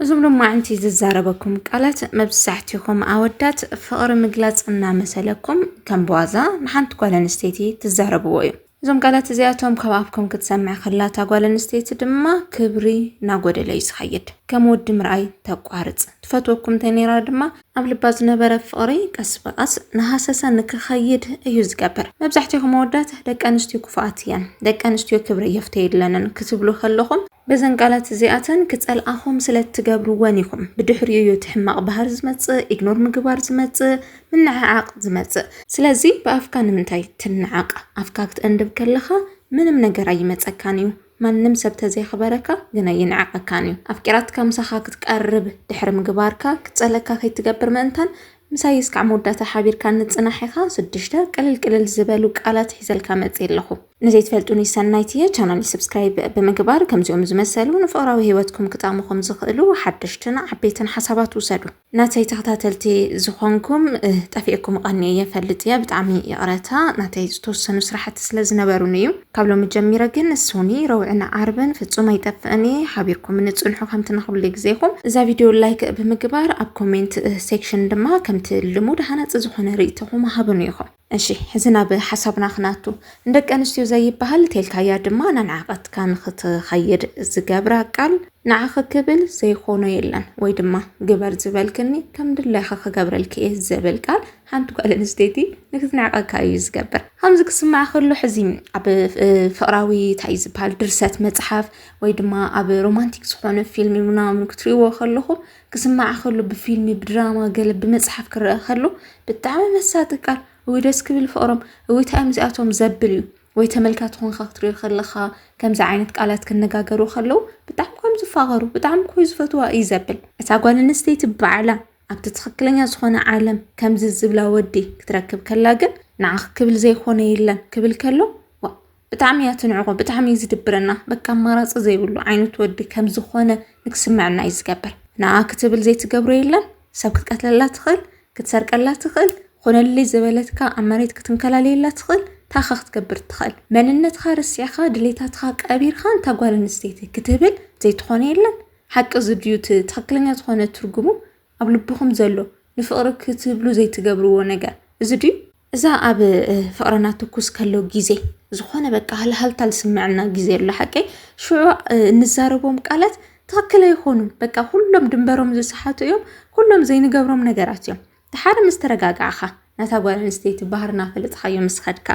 እዞም ሎማዕንቲ ዝዛረበኩም ቃላት መብዛሕቲኹም ኣወዳት ፍቕሪ ምግላፅ እናመሰለኩም ከም ብዋዛ ንሓንቲ ጓል ኣንስተይቲ ትዛረብዎ እዩ። እዞም ቃላት እዚኣቶም ካብ ኣፍኩም ክትሰምዕ ከላ እታ ጓል ኣንስተይቲ ድማ ክብሪ እናጎደለ እዩ ዝኸይድ። ከም ወዲ ምርኣይ ተቋርፅ። ትፈትወኩም እንተነይራ ድማ ኣብ ልባ ዝነበረ ፍቕሪ ቀስ ብቐስ እናሃሰሰ ንክኸይድ እዩ ዝገብር። መብዛሕቲኹም ኣወዳት ደቂ ኣንስትዮ ክፉኣት እየን፣ ደቂ ኣንስትዮ ክብሪ የፍተየለንን ክትብሉ ከለኹም በዘን ቃላት እዚኣተን ክጸልኣኹም ስለ እትገብርወን ኢኹም። ብድሕሪኡ እዩ እቲ ሕማቕ ባህሪ ዝመጽእ፣ ኢግኖር ምግባር ዝመጽእ፣ ምንዕዓቕ ዝመጽእ። ስለዚ ብኣፍካ ንምንታይ ትንዓቕ? ኣፍካ ክትእንድብ ከለኻ ምንም ነገር ኣይመጸካን እዩ። ማንም ሰብ ተዘየኽበረካ ግን ኣይንዕቐካን እዩ። ኣፍቂራትካ ምሳኻ ክትቀርብ ድሕሪ ምግባርካ ክትጸልእካ ከይትገብር ምእንታን ምሳይ እስካዕ መወዳእታ ሓቢርካ ንጽናሕ ኢካ ስድሽተ ቅልል ቅልል ዝበሉ ቃላት ሒዘልካ መጺ ኣለኩ ንዘይትፈልጡኒ ሰናይት እየ ቻናለይ ስብስክራይብ ብምግባር ከምዚኦም ዝመሰሉ ንፍቅራዊ ሂወትኩም ክጠቅሙኩም ዝክእሉ ሓደሽትን ዓበይትን ሓሳባት ውሰዱ ናተይ ተከታተልቲ ዝኮንኩም ጠፊእኩም ቀንየ እየ ፈልጥ እየ ብጣዕሚ ይቅረታ ናተይ ዝተወሰኑ ስራሕቲ ስለ ዝነበሩኒ እዩ። ካብ ሎሚ ጀሚረ ግን ሶኒ ረውዕን ዓርብን ፍጹም ኣይጠፍእን እየ ሓቢርኩምኒ ጽንሑ ከምቲ ንኹሉ ግዜኹም እዛ ቪድዮ ላይክ ብምግባር ኣብ ኮሜንት ሴክሽን ድማ ከምቲ ልሙድ ሃናጺ ዝኾነ ርእይቶኹም ሃቡኒ ኢኹም እሺ ሕዚ ናብ ሓሳብና ክናቱ ንደቂ ኣንስትዮ ዘይበሃል ቴልካያ ድማ ናንዓቀትካ ንክትኸይድ ዝገብራ ቃል ንዓኺ ክብል ዘይኾኖ የለን ወይ ድማ ግበር ዝበልክኒ ከም ድላይኺ ክገብረልኪ እየ ዝብል ቃል ሓንቲ ጓል ኣንስተይቲ ንክትንዕቀካ እዩ ዝገብር። ከምዚ ክስማዕ ከሎ ሕዚ ኣብ ፍቅራዊ እንታይ ዝበሃል ድርሰት መጽሓፍ ወይ ድማ ኣብ ሮማንቲክ ዝኾነ ፊልም ምናምን ክትሪእዎ ከለኹም ክስማዕ ከሎ ብፊልም ብድራማ ገለ ብመጽሓፍ ክረአ ከሎ ብጣዕሚ መሳጢ ቃል እውይ ደስ ክብል ፍቕሮም እውይ ታይ እዮም እዚኣቶም ዘብል እዩ ወይ ተመልካቲ ኮንካ ክትሪኦ ከለኻ ከምዚ ዓይነት ቃላት ክነጋገሩ ከለው ብጣዕሚ ኮም ዝፋቐሩ ብጣዕሚ ኮይ ዝፈትዋ እዩ ዘብል እታ ጓል ኣንስተይቲ ባዕላ ኣብቲ ትኽክለኛ ዝኾነ ዓለም ከምዚ ዝብላ ወዲ ክትረክብ ከላ ግን ንዓኺ ክብል ዘይኮነ የለን ክብል ከሎ ዋ ብጣዕሚ እያ ትንዕቆ ብጣዕሚ እዩ ዝድብረና በቃ ኣማራፂ ዘይብሉ ዓይነት ወዲ ከም ዝኾነ ንክስምዐና እዩ ዝገብር ንዓ ክትብል ዘይትገብሮ የለን ሰብ ክትቀትለላ ትኽእል ክትሰርቀላ ትኽእል ኾነልይ ዝበለትካ ኣብ መሬት ክትንከላለየላ ትኽእል ታኻ ክትገብር ትኽእል መንነትካ ርሲዕኻ ድሌታትካ ቀቢርካ እንታ ጓል ኣንስተይቲ ክትብል ዘይትኾነ የለን ሓቂ እዚ ድዩ እቲ ትኽክለኛ ዝኾነ ትርጉሙ ኣብ ልብኹም ዘሎ ንፍቕሪ ክትብሉ ዘይትገብርዎ ነገር እዚ ድዩ? እዛ ኣብ ፍቕርና ትኩስ ከሎ ግዜ ዝኾነ በቃ ሃልሃልታ ዝስምዐና ግዜ ኣሎ ሓቂ ሽዑ እንዛረቦም ቃላት ትኽክል ኣይኾኑን። በቃ ኩሎም ድንበሮም ዝሰሓቱ እዮም። ኩሎም ዘይንገብሮም ነገራት እዮም። ድሓር ምስ ተረጋጋዕካ ነታ ጓል ኣንስተይቲ ባህርና ፈለጥኻዮ ምስ ኸድካ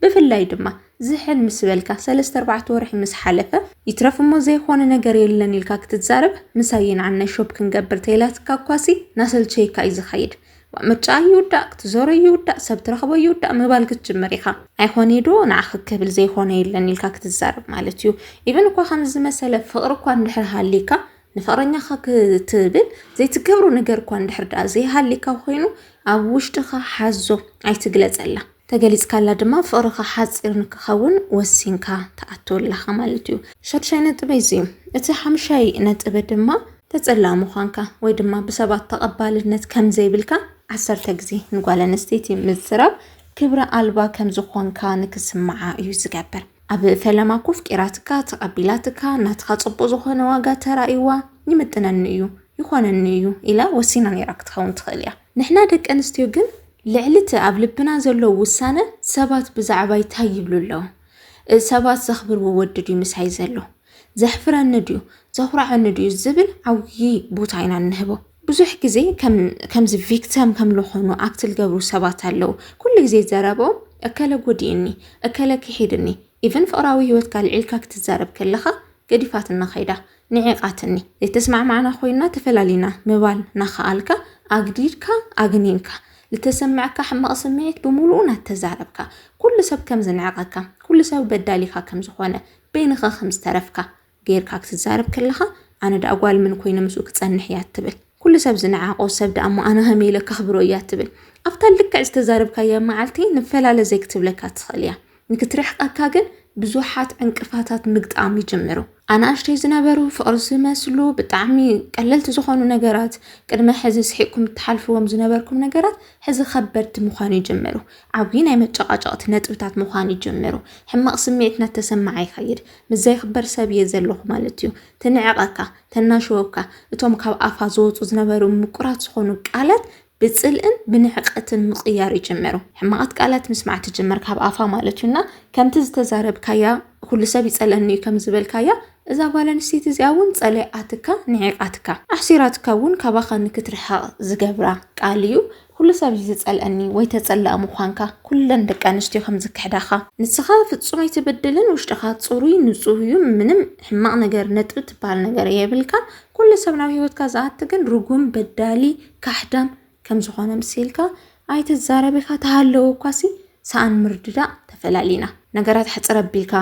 ብፍላይ ድማ ዝሕል ምስ በልካ ሰለስተ ኣርባዕተ ወርሒ ምስ ሓለፈ ይትረፍ እሞ ዘይኾነ ነገር የለን ኢልካ ክትዛረብ ምሳይ የንዓናይ ሾፕ ክንገብር ተይላትካ እኳሲ ናሰልቸየካ እዩ ዝኸይድ ዋእ ምርጫኣ ይውዳእ ክትዞሮ ይውዳእ ሰብ ትረኽቦ ይውዳእ ምባል ክትጅምር ኢኻ ኣይኾነይ ዶ ንዓኺ ክብል ዘይኾነ የለን ኢልካ ክትዛረብ ማለት እዩ ኢቨን እኳ ከምዚ ዝመሰለ ፍቕሪ እኳ እንድሕር ሃልይካ ንፍቕረኛኻ ክትብል ዘይትገብሮ ነገር እኳ እንድሕር ደኣ ዘይሃሊካ ኮይኑ ኣብ ውሽጥኻ ሓዞ ኣይትግለጸላ ተገሊጽካላ ድማ ፍቕርኻ ሓጺር ንክኸውን ወሲንካ ትኣቱ ኣለኻ ማለት እዩ ሸድሻይ ነጥበ እዚ እዩ እቲ ሓምሻይ ነጥበ ድማ ተጸላእ ምዃንካ ወይ ድማ ብሰባት ተቐባልነት ከም ዘይብልካ ዓሰርተ ግዜ ንጓል ኣንስተይቲ ምዝራብ ክብረ ኣልባ ከም ዝኾንካ ንክስምዓ እዩ ዝገብር ኣብ ፈለማ ኮፍ ቂራትካ ተቀቢላትካ ናትካ ጽቡቅ ዝኮነ ዋጋ ተራእይዋ ይምጥነኒ እዩ ይኮነኒ እዩ ኢላ ወሲና ነይራ ክትከውን ትክእል እያ ንሕና ደቂ ኣንስትዮ ግን ልዕሊ እቲ ኣብ ልብና ዘሎ ውሳነ ሰባት ብዛዕባይ ታይ ይብሉ ኣለዉ ሰባት ዘክብርዎ ወዲ ድዩ ምሳይ ዘሎ ዘሕፍረኒ ድዩ ዘኩርዓኒ ድዩ ዝብል ዓብዪ ቦታ ኢና እንህቦ ብዙሕ ግዜ ከምዚ ቪክተም ከም ልኾኑ ኣክት ልገብሩ ሰባት ኣለዉ። ኩሉ ግዜ ዘረብኦም እከለ ጎዲኡኒ፣ እከለ ክሒዱኒ፣ ኢቭን ፍቕራዊ ህይወትካ ኣልዒልካ ክትዛረብ ከለኻ ገዲፋትና ከይዳ፣ ንዒቓትኒ፣ ዘይተስማዕማዕና ኮይና ተፈላሊና ምባል ናኸኣልካ ኣግዲድካ ኣግኒንካ፣ ልተሰመዐካ ሕማቕ ስምዒት ብምሉኡ ናተዛረብካ፣ ኩሉ ሰብ ከም ዝንዕቐካ፣ ኩሉ ሰብ በዳሊኻ ከም ዝኾነ፣ በይንኻ ከም ዝተረፍካ፣ ጌርካ ክትዛረብ ከለኻ ኣነ ደኣ ጓል ምን ኮይነ ምስኡ ክጸንሕ እያ እትብል ኩሉ ሰብ ዝነዓቆ ሰብ ደኣ እሞ ኣነ ከመይ ኢለ ከኽብሮ እያ እትብል ኣብታ ልክዕ ዝተዛረብካያ መዓልቲ ንፈላለ ዘይክትብለካ ትኽእል እያ ንክትርሕቀካ ግን ብዙሓት ዕንቅፋታት ምግጣም ይጅምሩ ኣናእሽተይ ዝነበሩ ፍቕሪ ዝመስሉ ብጣዕሚ ቀለልቲ ዝኾኑ ነገራት ቅድመ ሕዚ ስሒቅኩም እትሓልፍዎም ዝነበርኩም ነገራት ሕዚ ከበድቲ ምዃን ይጅምሩ። ዓብዪ ናይ መጨቃጨቕቲ ነጥብታት ምዃን ይጅምሩ። ሕማቕ ስምዒት እናተሰማዓ ይኸይድ። ምስ ዘይኽበር ሰብ እየ ዘለኹ ማለት እዩ። ትንዕቐካ፣ ተናሽወካ፣ እቶም ካብ ኣፋ ዝወፁ ዝነበሩ ምቁራት ዝኾኑ ቃላት ብፅልእን ብንዕቀትን ምቕያር ይጅምሩ። ሕማቓት ቃላት ምስማዕ ትጅምር ካብ ኣፋ ማለት እዩ እና ከምቲ ዝተዛረብካያ ኩሉ ሰብ ይፀልአኒ እዩ ከም ዝበልካያ እዛ ጓል ኣንስተይቲ እዚኣ እውን ፀሊኣትካ ንዒቓትካ ኣሕሲራትካ እውን ካባኻ ንክትርሕቕ ዝገብራ ቃል እዩ። ኩሉ ሰብ እዩ ዝጸልኣኒ ወይ ተጸላኢ ምዃንካ ኩለን ደቂ ኣንስትዮ ከም ዝክሕዳኻ። ንስኻ ፍጹም ኣይትብድልን ውሽጥኻ ጽሩይ ንጹህ እዩ ምንም ሕማቕ ነገር ነጥቢ ትብሃል ነገር የብልካን ኩሉ ሰብ ናብ ህይወትካ ዝኣቲ ግን ርጉም በዳሊ ካሕዳም ከም ዝኾነ ምሲልካ ኣይትዛረብ ኢኻ ተሃለወ እኳሲ ሰኣን ምርድዳእ ተፈላሊና ነገራት ሕጽር ኣቢልካ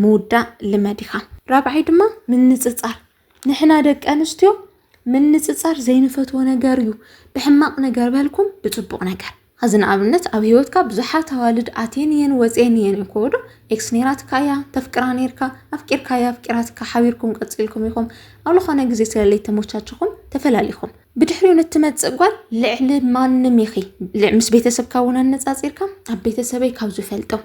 ምውዳእ ልመድ ኢኻ። ራብዓይ ድማ ምንጽጻር ንሕና ደቂ ኣንስትዮ ምንጽጻር ዘይንፈትዎ ነገር እዩ ብሕማቕ ነገር በልኩም ብጽቡቕ ነገር ኸዚ ንኣብነት ኣብ ሂወትካ ብዙሓት ኣዋልድ ኣትየን እየን ወፅየን እየን እዮም ከወዶ ኤክስ ኔራትካ እያ ተፍቅራ ኔርካ ኣፍቂርካ እያ ኣፍቂራትካ ሓቢርኩም ቀፂልኩም ኢኹም ኣብ ዝኾነ ግዜ ስለለይ ተሞቻችኹም ተፈላሊኹም ብድሕሪኡ ንትመፅእ ጓል ልዕሊ ማንም ኢኺ ምስ ቤተሰብካ እውን ኣነፃፂርካ ኣብ ቤተሰበይ ካብ ዝፈልጦም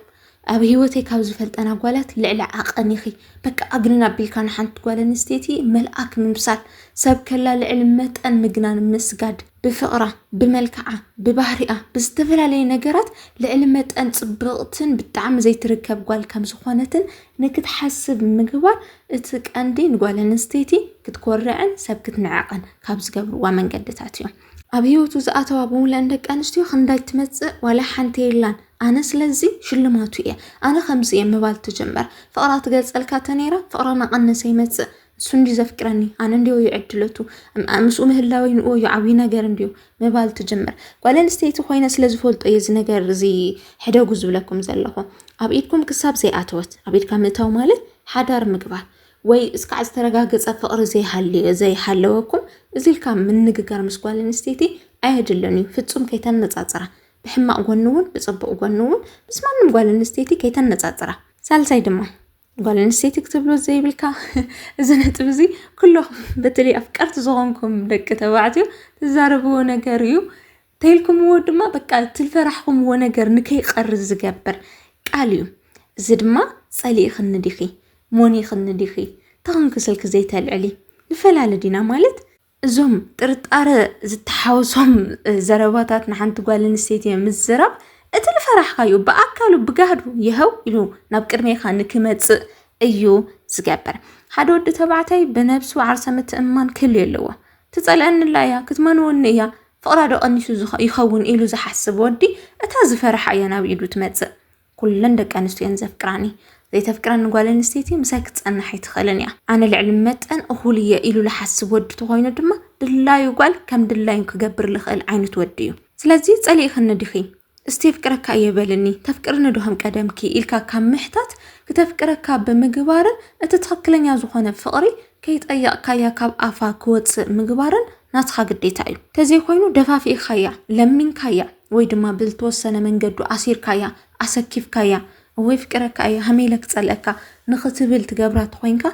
ኣብ ሂወተይ ካብ ዝፈልጠን ኣጓላት ልዕሊ ዓቐን ኢኺ በቃ ኣግንን ኣቢልካ ንሓንቲ ጓል ኣንስተይቲ መልኣክ ምምሳል ሰብ ከላ ልዕሊ መጠን ምግናን ምስጋድ ብፍቕራ ብመልክዓ ብባህሪኣ ብዝተፈላለየ ነገራት ልዕሊ መጠን ጽብቕትን ብጣዕሚ ዘይትርከብ ጓል ከም ዝኾነትን ንክትሓስብ ምግባር እቲ ቀንዲ ንጓል ኣንስተይቲ ክትኮርዕን ሰብ ክትንዕቕን ካብ ዝገብርዋ መንገድታት እዮም። ኣብ ሂወቱ ዝኣተዋ ብምልእን ደቂ ኣንስትዮ ክንዳይ ትመጽእ ዋላ ሓንቲ የላን ኣነ ስለዚ ሽልማቱ እየ ኣነ ከምዚ እየ ምባል ትጅምር ፍቕራ ትገልጸልካ ተነይራ ፍቕራ ናቐነሰ ይመጽእ እሱ እንዲ ዘፍቅረኒ ኣነ እንዲዮ ይዕድለቱ ምስኡ ምህላወይ ንኡ እዩ ዓብዪ ነገር እንዲዩ ምባል ትጅምር ጓል ኣንስተይቲ ኮይነ ስለ ዝፈልጦ እየ እዚ ነገር እዚ ሕደጉ ዝብለኩም ዘለኹ ኣብ ኢድኩም ክሳብ ዘይኣተወት ኣብ ኢድካ ምእታው ማለት ሓዳር ምግባር ወይ እስካዕ ዝተረጋገፀ ፍቕሪ ዘይሃልዮ ዘይሃለወኩም እዚ ኢልካ ምንግጋር ምስ ጓል ኣንስተይቲ ኣየድልን እዩ ፍፁም ከይተነፃፅራ ብሕማቕ ጎኒ እውን ብፅቡቕ ጎኒ እውን ምስ ማንም ጓል ኣንስተይቲ ከይተነፃፅራ ሳልሳይ ድማ ጓል ኣንስተይቲ ክትብሎ ዘይብልካ እዚ ነጥብ እዚ ኩለኹም በተለይ ኣፍቀርቲ ዝኾንኩም ደቂ ተባዕትዮ ትዛረብዎ ነገር እዩ ተይልኩምዎ ድማ በቃ እቲ ዝፈራሕኹምዎ ነገር ንከይቀርዝ ዝገብር ቃል እዩ እዚ ድማ ጸሊእኽኒ ዲኺ ሞኒኽኒ ዲኺ ተኽንኪ ስልኪ ዘይተልዕሊ ንፈላለ ዲና ማለት እዞም ጥርጣረ ዝተሓወሶም ዘረባታት ንሓንቲ ጓል ኣንስተይቲ ምዝራብ እቲ ዝፈራሕካዩ ብኣካሉ ብጋህዱ ይሀው ኢሉ ናብ ቅድሜኻ ንክመፅእ እዩ ዝገብር ሓደ ወዲ ተባዕታይ ብነብሱ ዓርሰ ምትእምማን ክህልዮ ኣለዎ ትፀልአኒ ኣላ እያ ክትመንወኒ እያ ፍቕራ ዶ ቀኒሱ ይኸውን ኢሉ ዝሓስብ ወዲ እታ ዝፈርሓ እያ ናብ ኢዱ ትመጽእ። ኩለን ደቂ ኣንስትዮ እየን ዘፍቅራኒ። ዘይተፍቅረኒ ጓል ኣንስተይቲ ምሳይ ክትጸንሕ ኣይትኽእልን እያ። ኣነ ልዕሊ መጠን እኹል እየ ኢሉ ዝሓስብ ወዲ ተኾይኑ ድማ ድላዩ ጓል ከም ድላዩ ክገብር ዝኽእል ዓይነት ወዲ እዩ። ስለዚ ጸሊእክኒ ዲኺ? እስቲ የፍቅረካ እየ በልኒ ተፍቅርኒ ዶ ከም ቀደምኪ ኢልካ ካብ ምሕታት ክተፍቅረካ ብምግባርን እቲ ትኽክለኛ ዝኾነ ፍቕሪ ከይጠየቕካያ ካብ ኣፋ ክወፅእ ምግባርን ናትኻ ግዴታ እዩ። ተዘይኮይኑ ደፋፊእኻያ፣ ለሚንካያ ወይ ድማ ብዝተወሰነ መንገዱ ኣሲርካያ፣ ኣሰኪፍካያ እወ የፍቅረካ እየ ሃመይ ኢለ ክፀልአካ ንኽትብል ትገብራ ተኾይንካ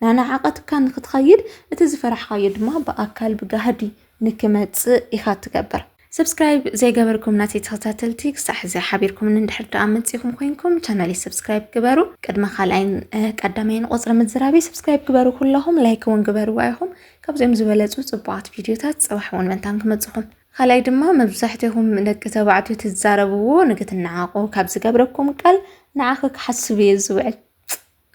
ናናዓቐትካ ንኽትኸይድ እቲ ዝፈራሕኻዮ ድማ ብኣካል ብጋህዲ ንክመጽእ ኢካ ትገብር። ሰብስክራይብ ዘይገበርኩም ናተይ ተከታተልቲ ክሳዕ ሕዚ ሓቢርኩምኒ እንድሕር ደኣ መጺእኩም ኮይንኩም ቻናለይ ሰብስክራይብ ግበሩ ቅድሚ ካልኣይን ቀዳማይን ቁጽሪ ምዝራበይ ሰብስክራይብ ግበሩ ኩለኹም ላይክ እውን ግበርዋ ኢኹም ካብዚኦም ዝበለጹ ጽቡቓት ቪድዮታት ጽባሕ እውን መንታን ክመጽኹም ካልኣይ ድማ መብዛሕትኹም ደቂ ተባዕትዮ ትዛረብዎ ንክትነዓቑ ካብ ዝገብረኩም ቃል ንዓኺ ክሓስብ እየ ዝውዕል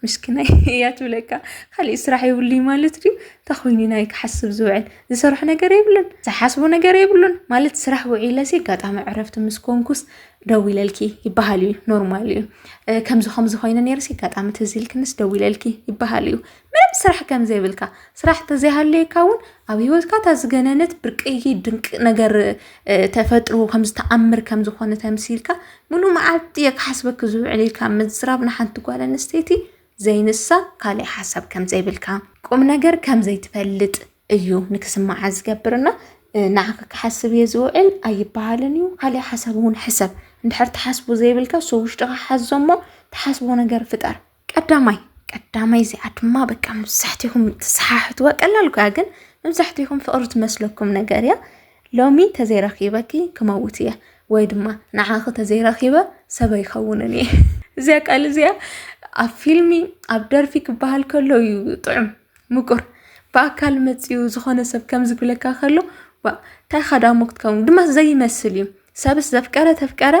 ምስኪናይ እያ ትብለካ ካሊእ ስራሕ የብሉይ ማለት ድዩ እንታይ ኮይኑ ናይ ክሓስብ ዝውዕል ዝሰርሖ ነገር የብሉን ዝሓስቦ ነገር የብሉን ማለት ስራሕ ውዒለሲ ኣጋጣሚ ዕረፍቲ ምስ ኮንኩስ ደው ኢለልኪ ይበሃል እዩ ኖርማል እዩ ከምዚ ከምዚ ኮይኑ ነርሲ ኣጋጣሚ ትዝ ኢልክንስ ደው ኢለልኪ ይበሃል እዩ ምንም ስራሕ ከም ዘይብልካ ስራሕ ተዘይሃለየካ እውን ኣብ ሂወትካ እታ ዝገነነት ብርቅይ ድንቂ ነገር ተፈጥሮ ከምዝተኣምር ከምዝኾነ ተምሲልካ ሙሉእ መዓልቲ እየ ክሓስበኪ ዝውዕል ኢልካ ምዝራብ ንሓንቲ ጓል ኣንስተይቲ ዘይንሳ ካሊእ ሓሳብ ከምዘይብልካ ቁም ነገር ከምዘይትፈልጥ እዩ ንክስምዓ ዝገብር እና ንዓኺ ክሓስብ እየ ዝውዕል ኣይበሃልን እዩ። ካሊእ ሓሳብ እውን ሕሰብ እንድሕር ትሓስቡ ዘይብልካ ሰው ውሽጥኻ ሓዞ እሞ ትሓስቦ ነገር ፍጠር። ቀዳማይ ቀዳማይ እዚኣ ድማ በቃ መብዛሕትኹም ትሰሓሕትዋ ቀላል እኮ ግን መብዛሕትኹም ፍቕሪ ትመስለኩም ነገር እያ ሎሚ ተዘይረኪበኪ ክመውት እየ ወይ ድማ ንዓኺ ተዘይረኪበ ሰበ ይኸውንን እየ እዚያ ቃል እዚኣ ኣብ ፊልሚ ኣብ ደርፊ ክበሃል ከሎ እዩ ጥዑም ምቁር ብኣካል መጺኡ ዝኾነ ሰብ ከምዚ ክብለካ ከሎ ዋእ እንታይ ኻዳሞ ክትከውን ድማ ዘይመስል እዩ ሰብስ ዘፍቀረ ተፍቀረ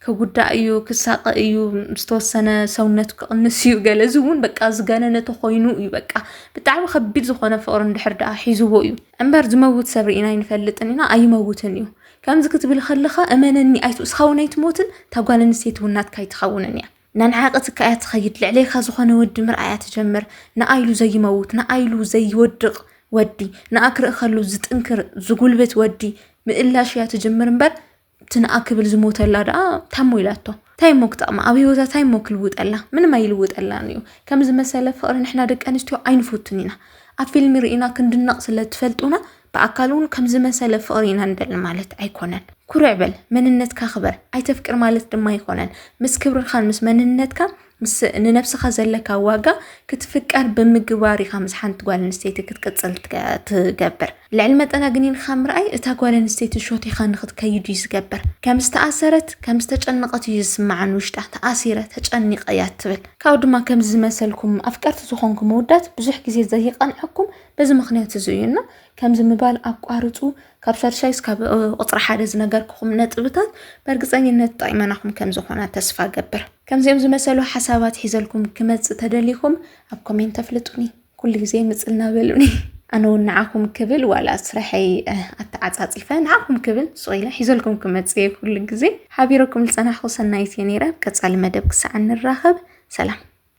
ክጉዳእ እዩ ክሳቀ እዩ ዝተወሰነ ሰውነቱ ክቕንስ እዩ ገለ እዚ እውን በቃ ዝገነነ ተኮይኑ እዩ በቃ ብጣዕሚ ከቢድ ዝኾነ ፍቕሪ እንድሕር ደኣ ሒዝዎ እዩ እምበር ዝመውት ሰብ ርኢና ኣይንፈልጥን ኢና ኣይመውትን እዩ ከምዚ ክትብል ከለኻ እመነኒ ኣይትውስኻ እውን ኣይትሞትን እታ ጓል ኣንስተይቲ እውን ናትካ ኣይትኸውንን እያ ነንሓቂ ትካ እያ ትኸይድ ልዕሌካ ዝኾነ ወዲ ምርኣያ ትጀምር ንኣይሉ ዘይመውት ንኣይሉ ዘይወድቕ ወዲ ንኣ ክርኢ ከሉ ዝጥንክር ዝጉልብት ወዲ ምእላሽ እያ ትጅምር እምበር እቲ ንኣ ክብል ዝሞተላ ደኣ ታሞ ኢላቶ እንታይ እሞ ክጠቕማ ኣብ ሂወታ እንታይ እሞ ክልውጠላ ምንም ኣይልውጠላን እዩ ከምዚ መሰለ ፍቕሪ ንሕና ደቂ ኣንስትዮ ኣይንፈቱን ኢና ኣብ ፊልሚ ርኢና ክንድነቕ ስለ ትፈልጡና ብኣካል እውን ከምዚ መሰለ ፍቕሪ ኢና ንደሊ ማለት ኣይኮነን። ኩርዕ በል፣ መንነትካ ክበር፣ ኣይተፍቅር ማለት ድማ ኣይኮነን። ምስ ክብርኻን ምስ መንነትካ ምስ ንነብስኻ ዘለካ ዋጋ ክትፍቀር ብምግባር ኢኻ ምስ ሓንቲ ጓል ኣንስተይቲ ክትቅፅል ትገብር። ልዕሊ መጠን ኣግኒንካ ምርኣይ እታ ጓል ኣንስተይቲ ሾቲኻ ንክትከይድ እዩ ዝገብር። ከም ዝተኣሰረት ከም ዝተጨነቐት እዩ ዝስምዓን ውሽጣ ተኣሲረ ተጨኒቐ እያ ትብል። ካብኡ ድማ ከምዚ ዝመሰልኩም ኣፍቀርቲ ዝኾንኩም ውዳት ብዙሕ ግዜ ዘይቐንዐኩም በዚ ምኽንያት እዚ እዩ እና ከምዚ ምባል ኣቋርፁ። ካብ ሻድሻይ እስካብ ቁፅሪ ሓደ ዝነገርክኹም ነጥብታት በእርግፀኝነት ጠቂመናኹም ከም ዝኾና ተስፋ ገብር። ከምዚኦም ዝመሰሉ ሓሳባት ሒዘልኩም ክመፅእ ተደሊኹም ኣብ ኮሜንት ተፍልጡኒ ኩሉ ግዜ ምፅልና በሉኒ ኣነ እውን ንዓኹም ክብል ዋላ ስራሐይ ኣተዓፃፂፈ ንዓኹም ክብል ሱቕ ኢለ ሒዘልኩም ክመፅእ እየ ኩሉ ግዜ ሓቢረኩም ዝፀናሕኩ ሰናይት እየ ነይረ ኣብ ቀፃሊ መደብ ክሳዕ ንራኸብ ሰላም